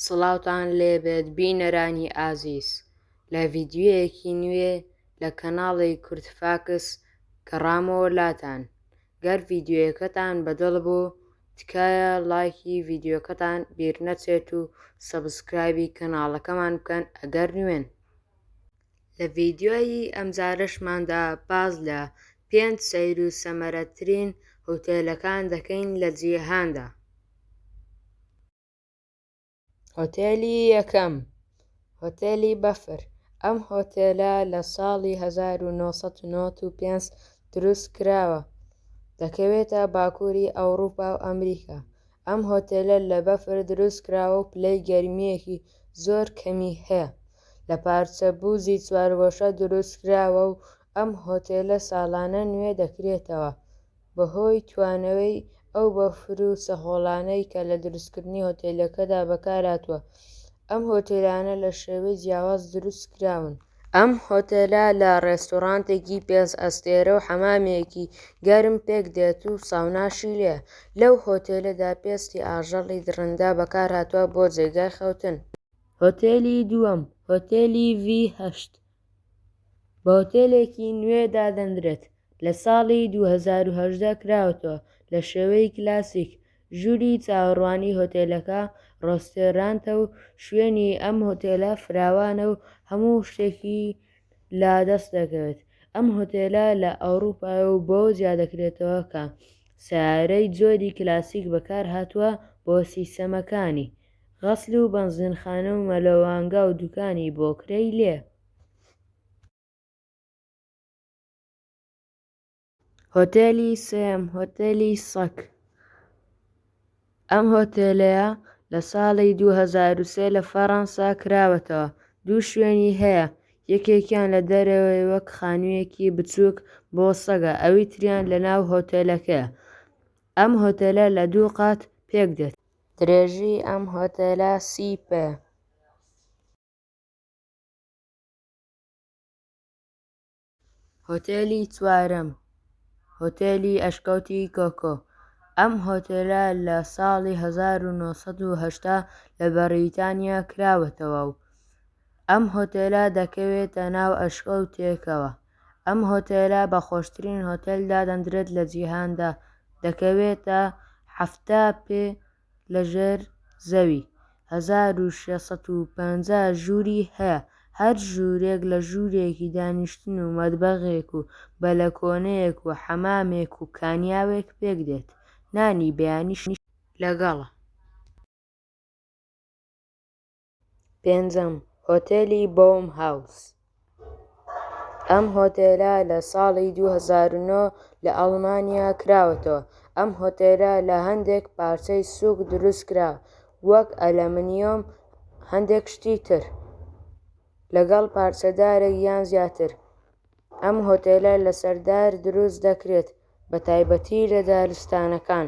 سڵاوتان لێبێت بینەرانی ئازیز لە ڤیدیۆیەکی نوێ لە کەناڵی کورد فاکس گەڕامەوە لاتان گەر ڤیدیۆیەکەتان بە دڵ بوو تکایە ڵایکی ڤیدیۆکەتان بیر نەچێت و سەبسکرایبی کەناڵەکەمان بکەن ئەگەر نوێن لە ڤیدیۆی ئەمجارەشماندا باس لە پێنج سەیر و سەمەرەترین هوتێلەکان دەکەین لە جیهاندا. هۆتێلی یەکەم، هۆتێلی بەفر، ئەم هۆتێلە لە ساڵی هەزار و نۆ سەد و نەوەد و پێنج دروست کراوە، دەکەوێتە باکووری ئەوڕووپا و ئەمریکا، ئەم هۆتێلە لە بەفر دروست کراوە و پلەی گەرمییەکی زۆر کەمی هەیە، لە پارچە بووزی چوارگۆشە دروست کراوە و ئەم هۆتێلە ساڵانە نوێ دەکرێتەوە. بەهۆی توانەوەی ئەو بەفر و سەهۆڵانەی کە لە دروستکردنی هۆتێلەکەدا بەکارهاتووە، ئەم هۆتێلانە لە شێوەی جیاواز دروستکراون. ئەم هۆتێلە لە ڕێستۆرانتێکی پێنج ئەستێرە و حەمامێکی گەرم پێکدێت و ساوناشی لێیە. لەو هۆتێلەدا پێستی ئاژەڵی دڕندە بەکارهاتووە بۆ جێگای خەوتن. هۆتێلی دووەم، هۆتێلی ڤی هەشت، بە هۆتێلێکی نوێ دادەندرێت لە ساڵی دوو هەزار و هەژدە کراوەتەوە لە شێوەی کلاسیک، ژووری چاوەڕوانی هۆتێلەکە ڕۆستێرانتە و شوێنی ئەم هۆتێلە فراوانە و هەموو شتێکی لا دەست دەکەوێت، ئەم هۆتێلە لە ئەوروپایە و بەوە جیا دەکرێتەوە کە سەیارەی جۆری کلاسیک بەکارهاتووە بۆ سیستەمەکانی. غەسل و بەنزینخانە و مەلەوانگا و دوکانی بۆکرەی لێ. هۆتێلی سێم، هۆتێلی سەگ، ئەم هۆتێلەیە لە ساڵی دوو هەزار و سێ لە فەڕەنسا کراوەتەوە، دوو شوێنی هەیە، یەکێکیان لە دەرەوەی وەک خانوویەکی بچووک بۆ سەگە، ئەوی تریان لەناو هۆتێلەکەیە، ئەم هۆتێلە لە دوو قات پێکدێت. درێژی ئەم هۆتێلە سی پێ. هۆتێلی چوارەم، هۆتێلی ئەشکەوتی کۆکۆ، ئەم هۆتێلە لە ساڵی هەزار و نۆ سەد و هەشتا لە بەڕیتانیا کراوەتەوە و ئەم هۆتێلە دەکەوێتە ناو ئەشکەوتێکەوە ئەم هۆتێلە بە خۆشترین هۆتێل دادەندرێت لە جیهاندا، دەکەوێتە حەفتا پێ لە ژێر زەوی، هەزار و شێ سەد و پەنجا ژووری هەیە، هەر ژوورێک لە ژوورێکی دانیشتن و مەتبەخێک و بەلەکۆنەیەک و حەمامێک و کانیاوێک پێک دێت، نانی بەیانیش لەگەڵە. پێنجەم، هۆتێلی بۆوم هاوس، ئەم هۆتێلە لە ساڵی دوو هەزار و نۆ لە ئەڵمانیا کراوەتەوە، ئەم هۆتێلە لە هەندێک پارچەی سووک دروستکرا وەک ئەلەمنیۆم هەندێک شتی تر لەگەڵ پارچە دارێک یان زیاتر، ئەم هۆتێلە لەسەر دار دروست دەکرێت بە تایبەتی لە دارستانەکان.